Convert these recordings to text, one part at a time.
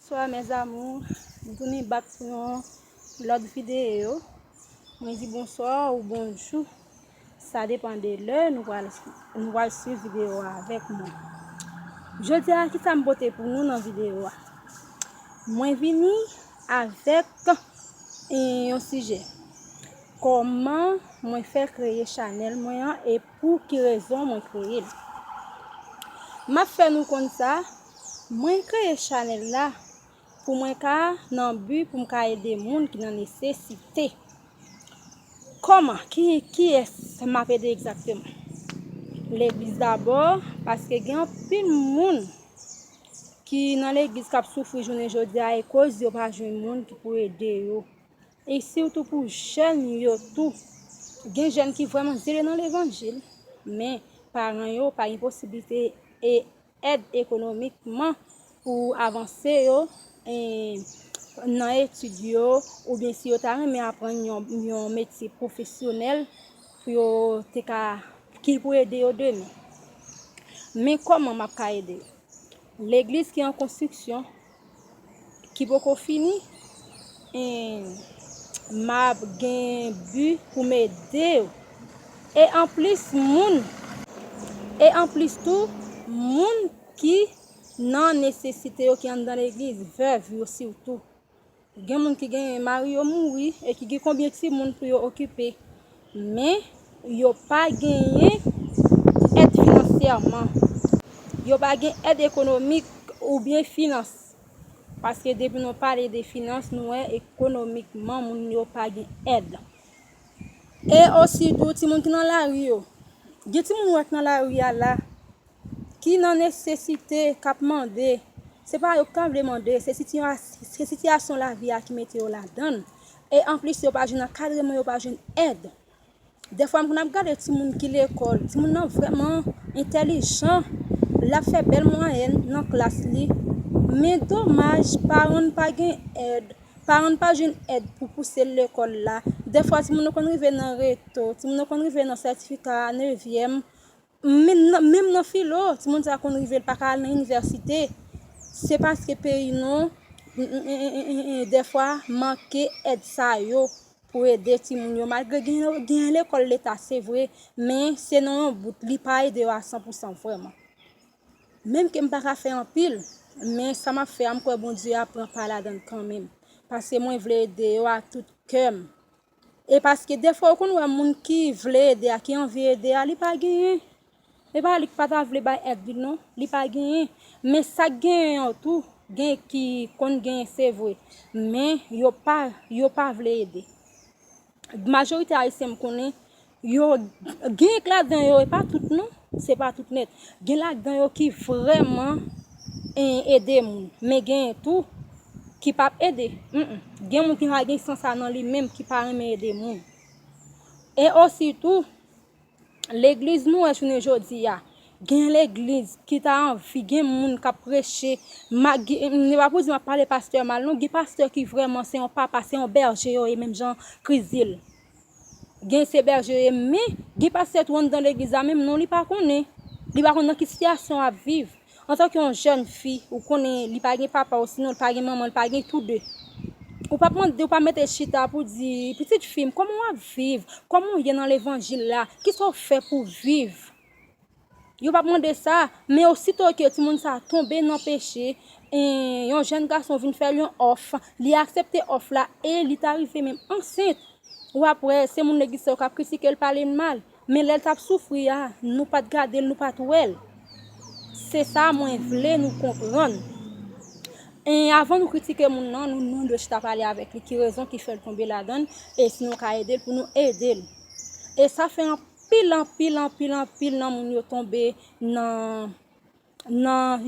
Bnswa mes amours m tounin bak pou yon lot video mwen di bonswa ou bonjou sa depan de lè nou pral swiv video a avek mwen jodi a kisa m pote pou nou nan video a mwen vini avek yon sijè koman mwen fè kreye chanel mwen an e Pou ki rezon mwen kreye l? M ap fè nou konn sa, mwen kreye chanèl la pou mwen ka nan bi pou m ka ede moun ki nan nesesite. Kòman, kiyès m ap ede egzakteman? Legliz dabò, paske gen anpil moun ki nan legliz k ap soufri jounen jodi a ekoz yo pa jwenn moun ki pou ede yo. e sitou pou jèn yo tou gen jèn ki vrèman zele nan levanjil men paran yo pa gen posiblite e èd ekonomikman pou avanse yo nan etid yo oubyen si yo ta renmen aprann yon metye pwofesyonèl pou yo te ka ki pou ede yo demen men kòman map ka ede legliz ki an konstriksyon ki poko fini en map gen bu poum edew e anplis moun e anplis tou moun ki nan nesesite yo ki anndan legliz vèv yo sitou Gen moun ki gen mari yo mouri e ki gen konbyen timoun pou yo okipe, men yo pa genyen èd finansyèman, yo pa gen èd ekonomik oubyen finans. Paske depi nou pale de finans, nou wè ekonomikman moun yo pa gen èd. E ositou timoun ki nan lari yo, gen timoun ou wè ki nan lari a la, ki nan nesesite, k ap mande, se pa yo ki ta vle mande, se sitiyasyon lavi a ki mete yo ladan l, e anplis yo pa jwenn ankadreman, yo pa jwenn èd. Dèfwa m konn ap gade timoun ki lekòl, timoun nan vrèman entèlijan, l ap fè bèl mwayèn nan klas li, men domaj paran l pa gen èd, paran l pa jwenn èd pou pouse l lekòl la. Dèfwa timoun nan konn rive nan reto, timoun nan konn rive nan sètifika nevyèm, Menm nan filo, timoun sa konn rive l paka al nan inivèsite, se paske peyi nou dèfwa manke èd sa yo pou ede timoun yo. Malgre gen lekòl leta se vre, men se nan yon bout, li pa ede yo a san pou san vrèman. Menm ke m paka fè anpil, men sa m ap fè a m kwè Bondye ap pran pa ladan l kanmenm, paske mwen vle ede yo ak tout kè m. E paske defwa ou konn wè moun ki vle ede a ki anvi ede a li pa genyen. E pa li k pa ta vle bay èd li non, li pa genyen. Men sak genyen an tou, gen ki konn genyen se vre. Men yo pa yo pa vle ede. Majorite ayisyen m konnen Yo genk ladan yo, e pa tout non, se pa tout nèt. Gen ladan yo ki vrèman ede moun, men genyen tou ki pa p ede. Gen moun ki pa gen sans sa nan li menm, ki pa renmen ede moun. E osi tou, legliz nou wè jounen jodi a, gen legliz ki ta anvi, gen moun k ap preche, se pa pou di m ap pale pastè mal non, gen pastè ki vrèman se yon papa, se yon bèje yo ye menm jan Kris di l. Gen se bèje ye men gen pastè tou anndan legliz la menm non li pa konnen. Li pa konn nan ki sitiyasyon ap viv. Antanke yon jèn fi, ou konnen li pa gen papa osinon li pa gen manman, li pa gen tou de. Ou pap mande, ou pa mete chita pou di, pitit fi m, kòman w ap viv? Kòman w ye nan levanjil la? Kisa w fè pou viv? Yo pap mande sa, men osito ke timoun sa a tonbe nan peche, e yon jèn gason vin fè l yon òf, li aksepte òf la, e li ta rive menm ansent, w ap wè se moun legliz sa yo k ap kritike l, pale l mal. Men lè l t ap soufri a, nou pa t gade l, nou pa t wè l. Se sa mwen vle nou konprann. E avan nou kritike moun nan, nou dwe chita pale avèk li, ki rezon ki fè l tonbe ladan l, e si nou ka ede l, pou nou ede l. E sa fè anpil. Anpil anpil anpil anpil nan moun yo tonbe nan nan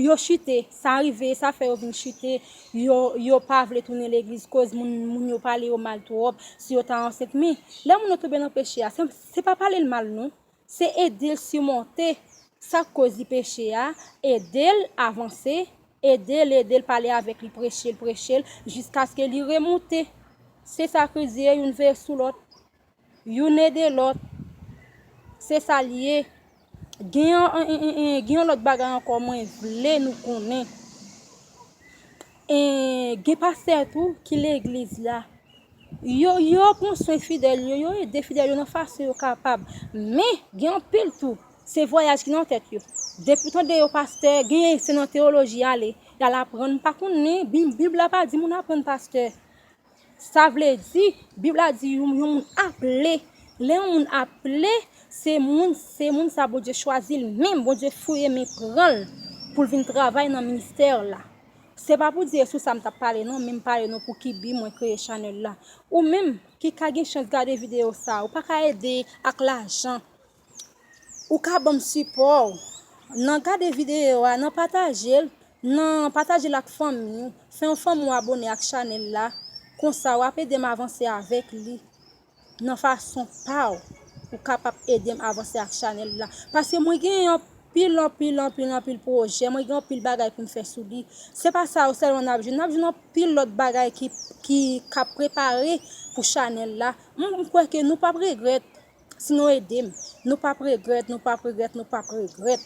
yo chite sa rive sa fè yo vin chite yo pa vle tounen legliz koz moun yo pale yo mal twòp si yo ta ansent men lè moun yo tonbe nan peche a se pa pale l mal non se ede l simonte sak koz li peche a ede l avanse ede l ede l pale avèk li preche l preche l jiskaske li remoute se sa kriz ye youn veye sou lòt Youn ede lòt. Se sa l ye. Gen yon lòt bagay ankò mwen vle nou konnen. Gen pastè tou ki legliz la. Yo pran swen fidèl yo. Yo ede fidèl yo nan fason yo kapab. Men, gen anpil tou, se vwayaj ki nan tèt yo. Depi w tande yo pastè, genyen se nan teyoloji y ale. Y al aprann. M pa konnen, Bib la pa di moun aprann pastè. Sa vle di, Bib la di yon moun aple. Lè yon moun aple, se moun, se moun sa Bondye chwazi l menm, Bondye fouye men pran l pou l vin travay nan ministè la. Se pa pou di e sou sa m t ap pale non, men m pale nou pou ki bi mwen kreye chanèl la. Ou menm ki ka gen chans gade videyo sa, ou pa ka ede ak lajan Ou ka banm sipò w nan gade videyo a nan pataje l nan pataje l ak fanmi w fè yon fanmi w abone ak chanèl la konsa wap edem avanse avèk li nan fason pa w ou ka pap edem avanse ak chanèl la paske mwen gen yon pil anpil anpil anpil pwojè mwen gen yon pil bagay pou m fè sou li se pa sa yo sèlman nap jwenn nap jwenn yon pil lòt bagay ki kap prepare pou chanèl la m kwè ke nou pap regrèt Si nou edem Nou pap regret Nou pap regret Nou pap regret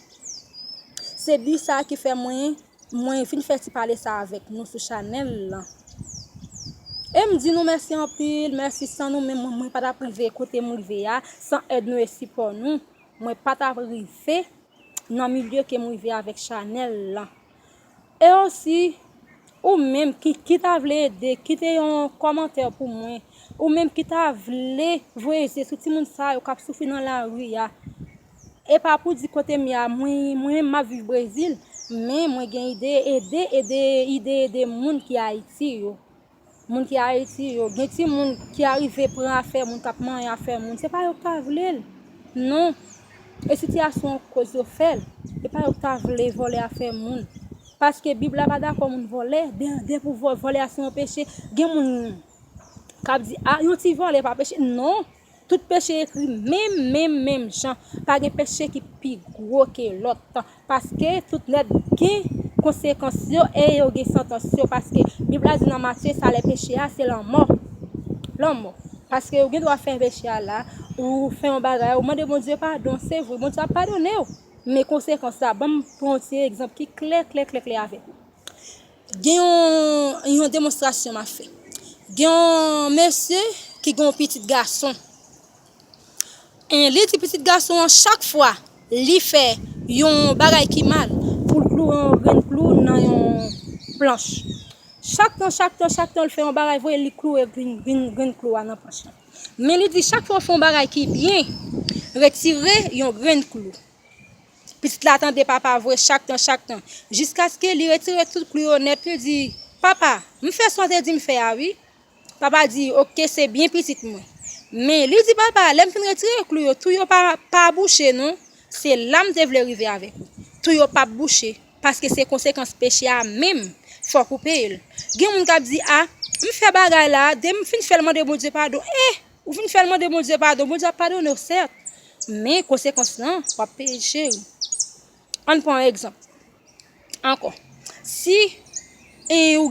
Se but sa ki fè mwen Mwen vin fè ti pale sa avèk nou sou chanèl lan Em di nou mèsi anpil Mèsi san nou menm mwen pa tap rive kotem rive a San èd nou e sipò nou Mwen pa tap rive Nan milye kem rive avèk chanèl lan. E osi ou menm ki ki ta vle ede kite yon kòmantè pou mwen ou menm ki ta vle voye je sou timoun sa yo kap soufri nan lari a e pa pou di kote m ye a mwen menm map viv brezil men mwen gen ide ede ede ide ede moun ki ayiti yo. Moun ki ayiti yo gen ti moun ki arive pran afè moun kap manyen afè moun se pa yo ki ta vlel non e sitiyasyon koz yo fèl e pa yo ki ta vle vòlè afè moun paske bib la pa dakò moun vòlè dè pou vòlè a se yon peche gen moun kap di a yon ti vòlè pa peche non Tout peche ekri menm menm menm jan, pa gen peche ki pi gwo ke lòt, paske tout nèt gen konsekans yo e yo gen santans yo, paske Bib la di nan Matye salè peche a se lanmò, lanmò, paske ou gen dwa fè peche a la, ou fè yon bagay, ou mande Bondye padon, se vre Bondye ap padone'w, men konsekans la, banm pran yon ti egzanp ki klè klè klè klè avèk ou. Gen yon demonstrasyon m ap fè. Gen yon mesye ki gen yon pitit gason. E li di pitit gason an chak fwa li fè yon bagay ki mal pou l kloure yon grenn klou nan yon planch. Chak tan, chak tan, chak tan l fè yon bagay vre, li kloure grenn klou a nan planch lan. Men li di chak fwa ou fè yon bagay ki byen, retire yon grenn klou. Pitit la tande papa voye chak tan chak tan jiskaske li retire tout klou yo nèt li di, Papa, m fè sa w te di m fè a wi. Papa di, Ok se byen pitit mwen. Men, li di papa a, lè m fin retire klou yo, tou yo pa bouche non, se la m te vle rive avèk ou. Tou yo pap bouche, paske se konsekans peche a menm, fòk ou peye l. Gen moun k ap di, A, m fè bagay la a, de m fin fè l mande Bondye padon, eh! Ou fin fèl mande Bondye padon Bondye ap padonew sèt men konsekans lan wap peye l cheri Ann pran yon egzanp ankò si ou